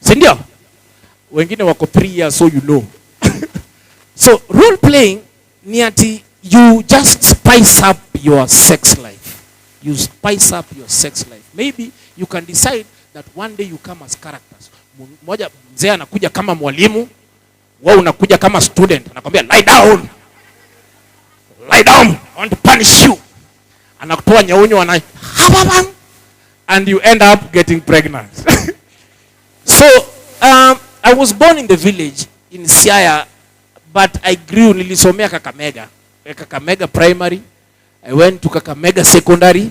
si ndio? Wengine wako 3 years, so you know so role playing ni ati you just spice up your sex life, you spice up your sex life. Maybe you can decide that one day you come as characters. Mmoja mzee anakuja kama mwalimu Wewe unakuja kama student, anakwambia lie down, lie down, I want to punish you. Anakutoa nyaunyo ana and you end up getting pregnant. so um, I was born in the village in Siaya but I grew, nilisomea Kakamega, Kakamega primary, I went to Kakamega secondary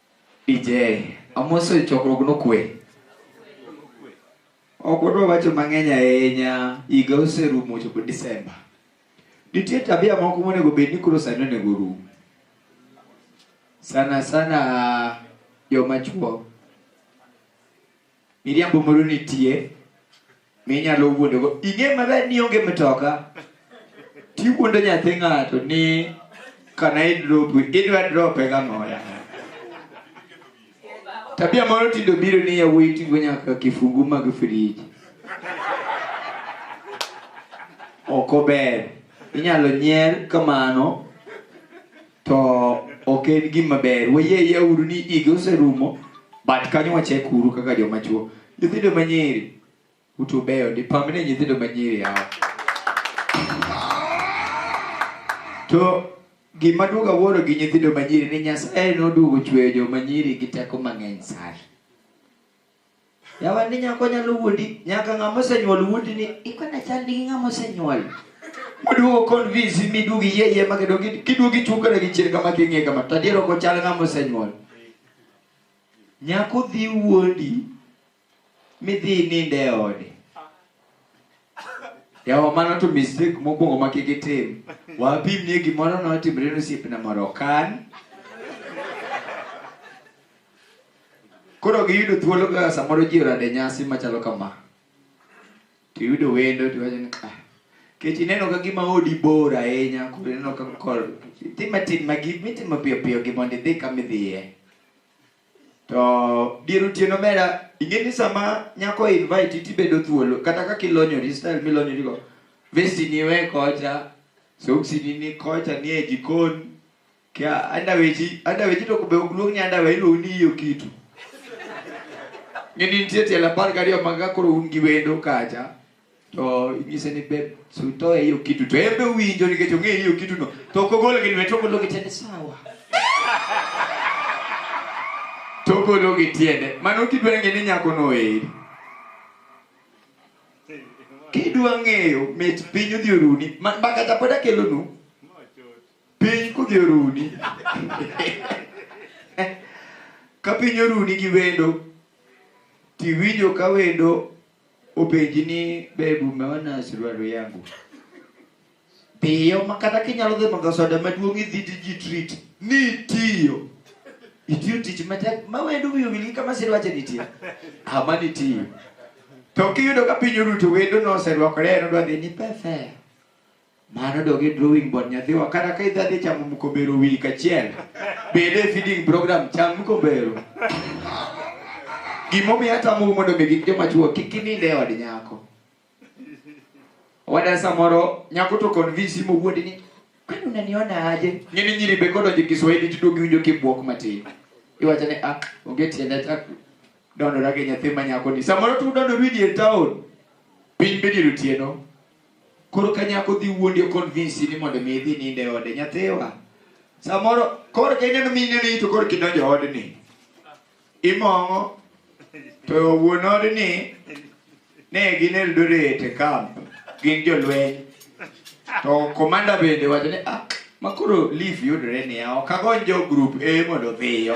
DJ, amoso e chokruok nokwe. Ok wadwa wacho mang'eny ahinya, higa oserumo ochopo Disemba. Nitie tabia moko monego bed ni koro sani onego orum. Sana sana joma chuo Miriambo moro nitie minyalo wuondogo. Ing'e maber ni onge mtoka, tiwuondo nyathi ng'ato ni kana idrop, idwa drope gang'oya. Tabia moro tindo biro ni yawuoyi tigo nyaka kifungu mag friji. Ok ober. Inyalo nyier kamano to ok en gima ber wayie yauru ni igi oserumo but kanyo wachek uru kaka joma chuo nyithindo manyiri utu beyo ndi pamne nyithindo manyiri yawa to gima duoga wuoro gi nyithindo manyiri ni nyasaye noduogo chweyo joma nyiri gi teko mang'eny sana Yawandi nyako nyalo wuondi nyaka ng'ama osenyuol wuondi ni ikona chal gi ng'ama osenyuol. Moduogo convince mi duogi yie yie ma kendo kiduogi chukre gi chien kama king'e kama to adier ok ochal ng'ama osenyuol. Nyako dhi wuondi midhi ninde e ode. Yawa mano to mistake mokwongo ma kik itim. Wapim ni gimoro notimre ne osiepna moro kan Koro giyudo thuolo kaka samoro ji orade nyasi machalo kama. To iyudo wendo to iwacho ni ah, kech ineno ka gima odi bor ahinya koro ineno ka kor tima tim ma gi mitimo piyo piyo gi mondo idhi kama idhiye. To dier otieno mera ing'e ni sama nyako invite tibedo thuolo kata kaka ilonyori style milonyorigo vesti ni we kocha soksi ni ni kocha ni e jikon Kia andaweji, andaweji to be ogluong ni andawe iluongo ni iyo kitu. Ng'eni nitie tielo apar gariyo mag ka koro un gi wendo kacha to inyise ni be sutoe iyo kitu to en be owinjo nikech ong'eyo iyo kitu no to ok ogolo gi lwete ogolo gi tiende sawa to ogolo gi tiende mano kidwa ng'e ni nyako no eri kidwa ng'eyo mit piny odhi oruni ma ma kata pod akelonu Piny kodhi oruni. ka piny oruni gi wendo, tiwinjo ka wendo openji ni bebu umeona suruali yangu. Dhiyo ma kata kinyalo dhi madho soda maduong' idhi to ji treat ni itiyo. Itiyo tich matek ma wendo wiyo wil gi kama sirwache nitie. Ama nitiyo. To kiyudo ka piny oruto wendo noserwakore en odwa dhi ni pefea. Mano dog e drawing board nyathiwa kata ka idhi adhi chamo mkombero wik achiel bende e feeding program cham mkombero gimomiyo atamou mondo mi gik joma chuo kik inind e od nyako wada samoro nyako to convince mowuond ni kwani unaniona aje ng'eni nyiri be kodonjo e kiswahili tiduog iwinjo kibwok matin iwacho ni ah onge tiende achak dondora gi nyathi ma nyako ni samoro tudondo rwidi e town piny be dier otieno Koro ka nyako dhi wuondi o convince ni mondo mi idhi ninde ode nyathiwa. Samoro koro ka ineno mine ni to koro kidonjo odni. Imong'o to wuon odni ne gin Eldoret e camp gin jolweny to komanda bende wacho ni ah Ma koro leaf yudore niya, ok agony jo group A mondo dhiyo.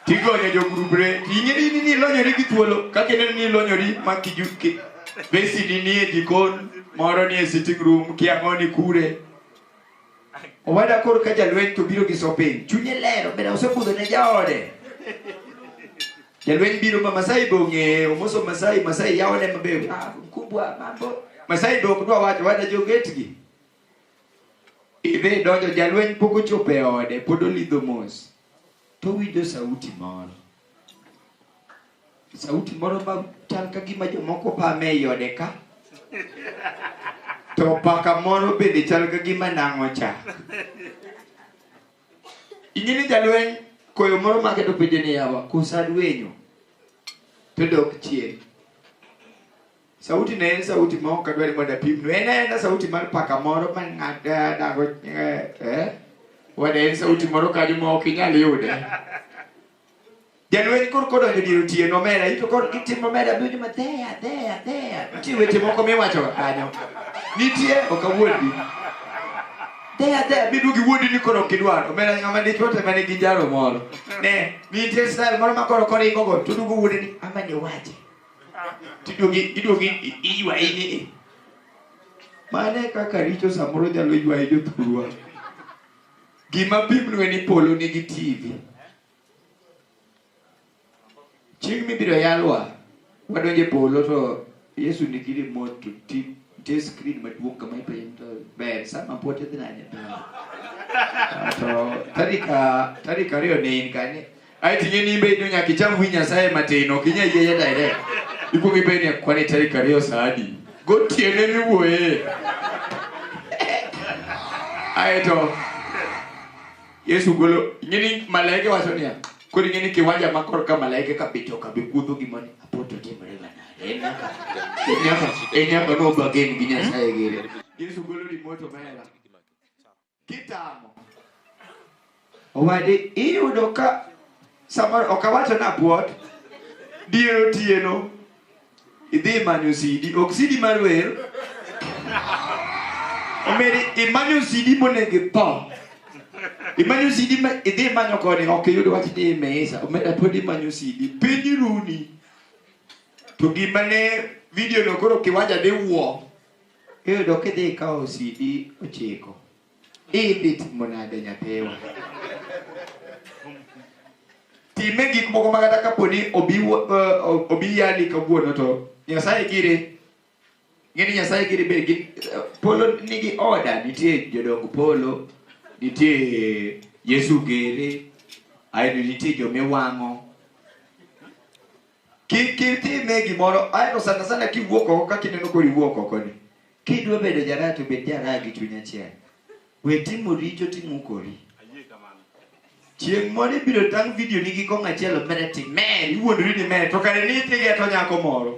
Tigonyo jo group re, ting'eri ni nilonyori gi thuolo, kaka ineno ni ilonyori ma kijuki. Besini nie jikon, moro nie sitting room, kiang'oni kure. Owada koro ka jalweny to biro gi sopin, chunye lero, bende osebudho ne jaode. Jalweny biro ma Masai be ong'eyo, omoso Masai, Masai yawone maber. Ah, mkubwa mambo. Masai be ok dwa wacho, wada jo gate gi. Idhi donjo jalweny pok ochopo e ode, pod olidho mos. To owinjo sauti moro. Sauti moro ma chal ka gima jomoko pame ei ode ka. To paka moro bende chal ka gima nang'o chak. Ing'e ni jalweny koyo moro make to penjo ni yawa, kosa dwenyo. To dok chien. Sauti ne en sauti ma ok adwar mondo apimnu. En aena sauti mar paka moro ma ng'ada dago eh, eh. Wada en sauti moro kanyo ma ok inyal yude. Jalweny kor kodonjo dier otieno omera, ito kor gitimo omera abinjo ma there, there, there. Nitie weche moko miwacho kanyo. Nitie ok awuondi. There, there, bidu gi wuondi ni koro ok idwar. Omera ng'ama dichwo to ema nigi njaro moro. Ne, nitie style moro ma koro koringo go, to dugo wuondi ni ama ni wache. tiduogi iduogi i- iywayi ni i. mane kaka richo samoro nyalo ywaye jothurwa gima pimnue ni polo nigi tv chieng' mibiro yalwa wadonje polo to yesu nigi remote to ti- nitie screen maduong' kama ipenjo to ber sama pote dhi nanye to tarik a- tarik ariyo ne in kanye Ai tinye ni imbe ino nyaka icham wi Nyasaye matin, ok inyal yieye direct. Ikwongo ipenjo ni kwan e tarik ariyo saa adi? Gotiene miwuoye. Aeto Yesu golo ing'e ni malaike wacho niya, koro ing'e ni kiwanja ma korka malaike ka bito ka bikudho gima ni apoto timore ga nade? En nyaka en nyaka en nyaka no bagen gi Nyasaye gere. Yesu golo remote omera. Kitamo. Owadi iyudo ka samoro ok awacho na puot dier otieno idhi manyo sidi ok sidi mar wer omeri imanyo sidi monego itho imanyo sidi ma idhi manyo koni ok iyud wach ni imesa omera pod imanyo sidi piny runi to gima ne video no koro kiwanja diwuo Iyudo kidhi ikawo CD ochiko. Idhi timo nade nyathiwa? Time gik moko ma kata kapo ni obi uh, obi yali kawuono to Nyasaye gire ng'e ni Nyasaye gire be gin uh, polo nigi oda nitie jodong polo nitie Yesu gere aeto nitie jomiwang'o Kik kik time gimoro aeto sana sana kiwuok oko kaka ineno kori wuok oko ni. Kidwa bedo jaraya to bed jaraya gi chuny achiel. We timo richo timukori. Chieng' moro ibiro tang' video ni gi kong' achiel mbele ti mer iwuondori ni mer to kare ni ithige to nyako moro.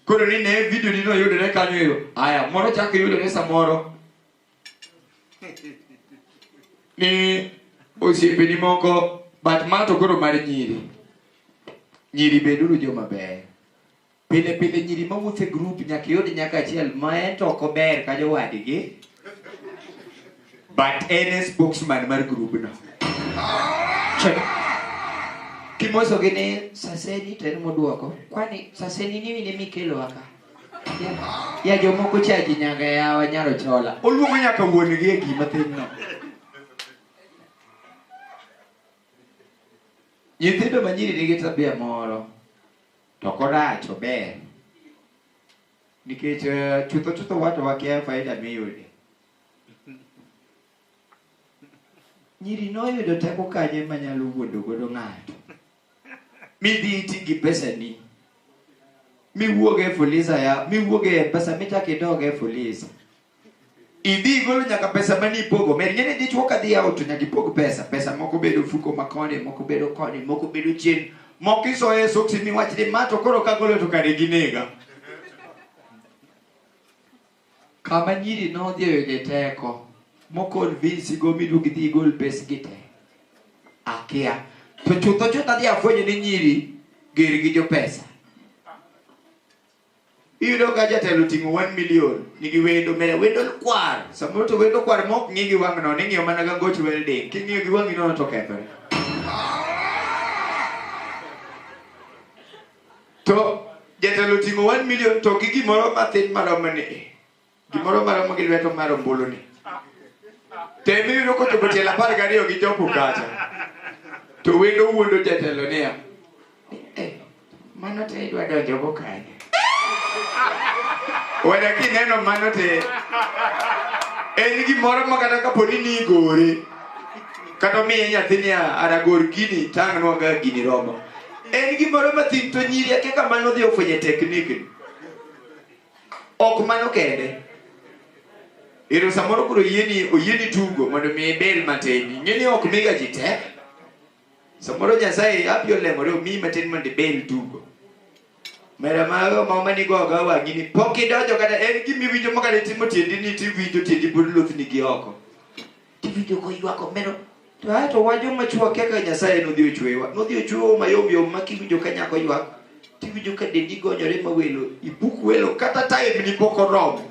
Koro ni ne video ni no yudore kanyo eyo. Aya moro chako yudore samoro ni osiepeni moko but ma to koro mar nyiri nyiri beduru joma beyo pile pile nyiri mawuotho e grup nyaka iyud nyaka achiel ma en to ok ober ka jowadgi but en e spokesman mar grubno kimosogi ni saseni to en modwoko kwani saseni ni mine mikelowa ka Ya jomoko cha ji nyanga yawa nyaro chola. Oluongo nyaka wuon gi e gima tin no. Nyithindo ma nyiri nigi tabia moro to korach ober nikech eh, chutho chutho wato wakia faida miyude. Nyiri noyudo teko kanye manyalo wuondo godo ng'ato? midhi iti gi pesani miwuog e fuliza ya miwuog e pesa michak idog e fuliza idhi igolo nyaka pesa mane ipogo mer ng'eni dichwo ka dhi yawo to nyaka ipog pesa pesa moko bedo fuko ma koni moko bedo koni moko bedo chien moko isoyo e soksi miwach ni ma to koro kagolo to kare ginega Kama nyiri nodhi oyude teko moconvince go midwa gidhi igol pesgi te akia to chutho chutho adhi afwenyo ni nyiri ger gi jopesa iyudo ka jatelo oting'o 1 million nigi wendo mere wendo kwar samoro to wendo kwar ma ok ng'i gi wang' nono ing'iyo mana ga goch welding king'iyo gi wang'i nono to kethore to jatelo oting'o 1 million to gi gimoro mathin maromo ni gimoro maromo gi lweto mar ombulu ni tem iyudo kochopo tielo apar gariyo gi chopo kacha to wendo wuondo jatelo niya "Eh, mano te idwa donjogo kanye wada kineno mano te en gimoro ma kata kapo ni nigore kata omiye nyathi niya aragor gini tang'nwaga gini romo en gimoro mathin to nyiri ake kamano dhi ofwenye teknikni ok mano kende ero samoro koro oyieni oyieni tugo mondo mi ibel matin ing'eni ok miga ji te samoro nyasaye abi olemore omiyi matin mondo ibel tugo mera mago ma manigo oga wang'i ni pok idonjo kata en gimiwinjo makata itimo tiendi ni tiwinjo tiendi pod lothni gi oko Tiwinjo koywak omeno. To ae to wa joma chwo akia kaka Nyasaye nodhi ochwewa. Nodhi ochwewa mayom yom ma kiwinjo ka nyako ywak. Tiwinjo ka dendi gonyore ma welo. Ibuk welo kata time ni pok oromo.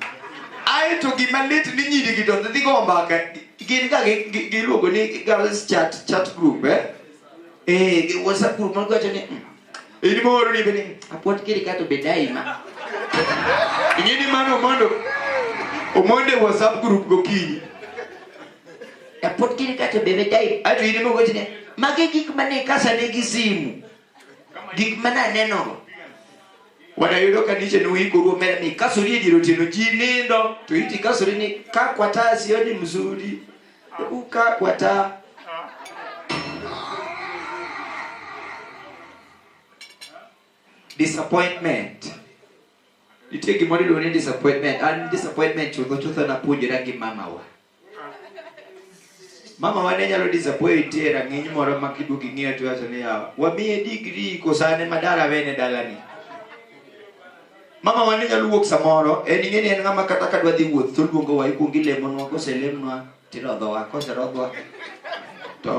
Ae to gima lit ni nyiri gi to dhi go mbaka. Gin ga gi- gi- giluongo ni girls chat chat group eh. Eh, gi WhatsApp group ma gwacho ni "Mm, In moro ni bene. Apuot kiri kato be daima. Ing'e ni mano mondo omonde WhatsApp group gokinyi. Apuot kiri kato be be daima. Ato in moko chine. Mage gik mane kasa ne gi simu. Gik mana neno. Wanayudo kanise ni wiko ruo mera ni kasuri ediro tino ji nindo to iti kasuri ni kakwa tasi odi mzuri. Hebu kaa kwa taa. Disappointment. Nitie gimoro iluongo ni disappointment. An disappointment chutho chutho napuonjora gi mamawa. Mamawa ne nyalo disappoint e rang'iny moro ma kiduogo ing'iyo to iwacho ni yawa, wamiye degree koso an ema dala wene dalani. Mama wan nyalo wuok samoro, en ing'eni en ng'ama kata ka dwa dhi wuoth to oluongowa ikuongo ilemonwa, koselemnwa tirodhowa, koserodhwa to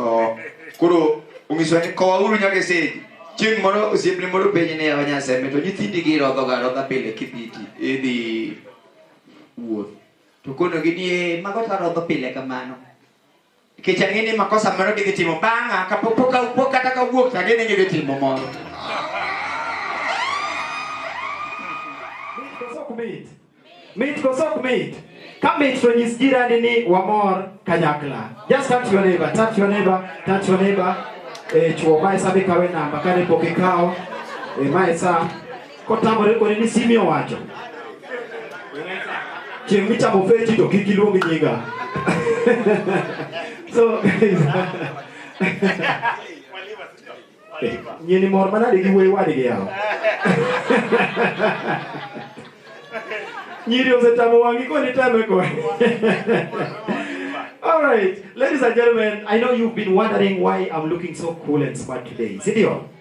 koro onyisowa ni kowauru nyaka e stage. Chieng' moro osiepne moro penje ni yawa Nyasembe to nyithindi girodhoga arodha pile kibiti idhi wuoth. To konogi ni ee mago tarodho pile kamano. Nikech ang'e ni makosa moro gidhi timo bang'a kapok pok ka- pok kata kawuok to ang'e ni gidhi timo moro. Mit koso ok mit? Mit koso ok mit? Ka mit to nyis jirani ni wamor kanyakla. Just touch your neighbor, touch your neighbor, touch your neighbor. Eh, chuo mae sa bikawe namba kane pok ikawo. Eh, mae sa Kotamore koni ni simi owacho. Chieng' michamo feji to kik iluong nyinga. so guys. Eh, Nyini mor manade gi wuoyi wadgi yawa. Nyiri osetamo wang'i koni tame koni. All right, ladies and gentlemen, I know you've been wondering why I'm looking so cool and smart today. Sindio?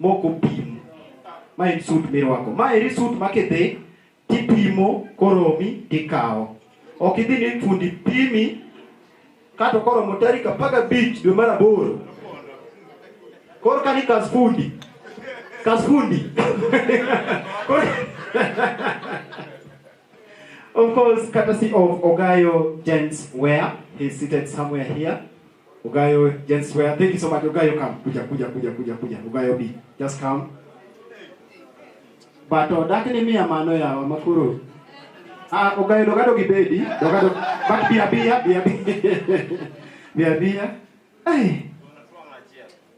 mok opim. Ma en sut mirwako. Ma eri sut ma kidhi tipimo koromi tikawo. Ok idhi ni fundi pimi kato koromo tarik apar gabich dwe mar aboro. Koro ka ni kas fundi. Kas fundi. of course, courtesy of Ogayo Gents Ware. He's seated somewhere here. Ogayo Jens Wea, thank you so much. Ogayo come. Kuja kuja kuja kuja kuja. Ogayo B. Just come. But odak ni mia mano ya makuru. Ah, Ogayo dogado gi baby. Dogado. But bia bia bia bia. Bia bia. Hey.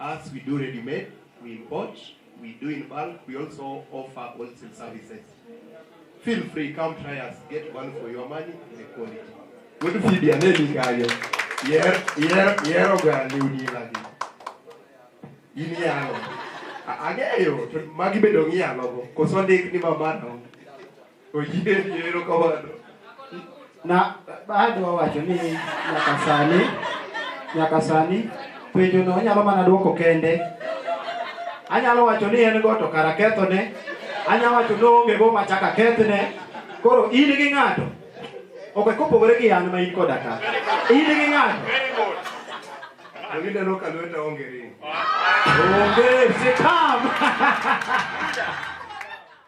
Us, we do ready made, we import, we do in bulk, we also offer wholesale services. Feel free, come try us, get one for your money in the quality. Good feed your name, Gario. Yer, yer, yer, Gario, Nilagi. Inialo. Agayo, magibedo ngialo, koso ndik ni mamano. Oyie yie erokamano. Na adwa wacho ni nyaka sani nyaka sani penjo no onyalo mana dwoko kende. Anyalo wacho ni en go to kara kethone. Anyalo wacho ni oonge go ma chaka kethne. Koro in gi ng'ato ok kopogore gi an ma in koda ka. In gi ng'ato. Very good. To gineno ka lweta onge ring. Onge sitam.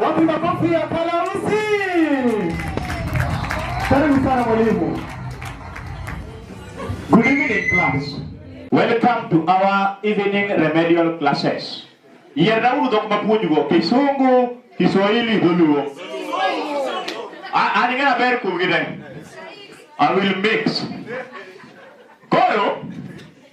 Wapi makofi ya Kalausi? Karibu sana mwalimu. Good evening class. Welcome to our evening remedial classes. Yerrauru dok mapuonjgo Kisungu, Kiswahili, Dholuo. An ing'eyo ber kuom gi I will mix. Koro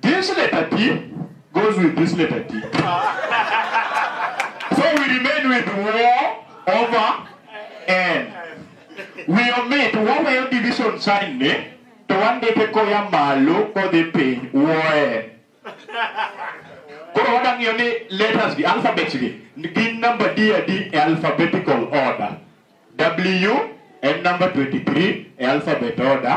This letter T goes with this letter T. so we remain with war over N. We omit waweyo division sign ni to wandike koya malo kodhi piny woen. Koro wadang'iyo ni letters gi alphabets gi gin number D adi e alphabetical order. W en number 23 e alphabet order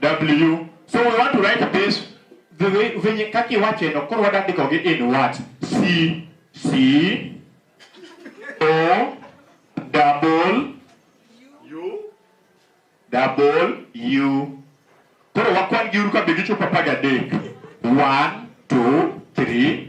w so we want to write this the way venye kaki wache no koro wadandiko gi in what c c o double double u koro wakwan gi uru ka be gichopo apar gadek one two three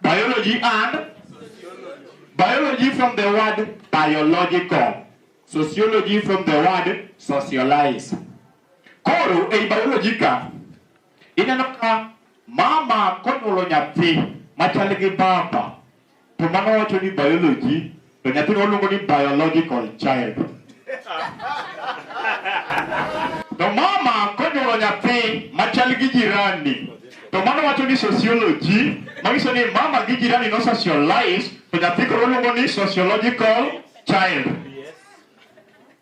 biology and biology from the word biological sociology from the word socialize koro ei biology ka ineno ka mama konyuolo nyathi machal gi baba To mano wacho ni biology to nyathino waluongo ni biological child. To mama konyuolo nyathi machal gi jirani to mano wacho ni sociology manyiso ni mama gi jirani no socialize to nyathi koro waluongo ni sociological child.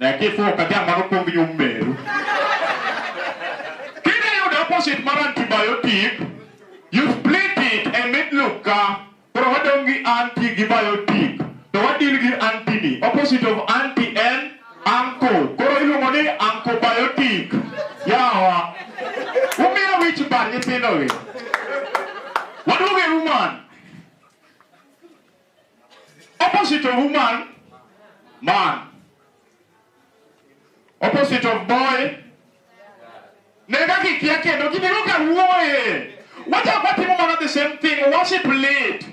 Nyathi fuwo ka dhiang' mano pong' nyum meru. Kidhi yudo opposite mar antibiotic, you split it e mid loop ka. Koro wadong' gi anti gi biotic. To wadil gi anti ni. Opposite of anti en anko. Koro iluongo ni ankobiotic. Yawa. Umiya wich bar nyithindo gi. Waduog e human. Opposite of woman, man. Opposite of boy, ne kaka ikia kendo gibiro ka wuoye. Wachak watimo mana the same thing, worship lead.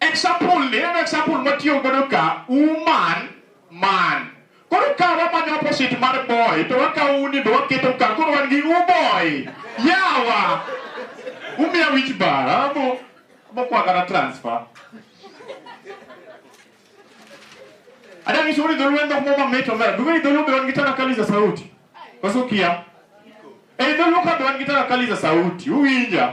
Example ni, en example matiyo godo ka, woman, man. Koro ka wamanyo opposite mar boy to wakawo uni to waketo ka koro wan gi uboy. Yawa. Umiya wich bar. Abo abo kwa kata transfer. Ada ni shughuli dhulu enda kumoma meto mara. Duwe ni dhulu bewan gitana kali za sauti. Kwa sukia. Eh dhulu ka bewan gitana kali za sauti. Uwinja.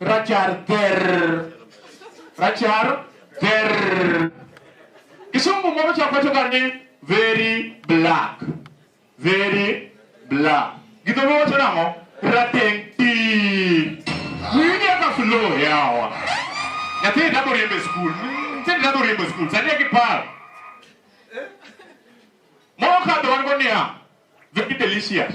Rachar ger. Rachar ger. Kisungu moro cha kwacho kar ni very black. Very black. Gidholuo wacho nang'o? Rateng' ti. Winje ka flow yawa. Nyathi dabo riembo e skul. Nyathi dabo riembo e skul. Sani akiparo. Moro kadho wan go niya. Very delicious.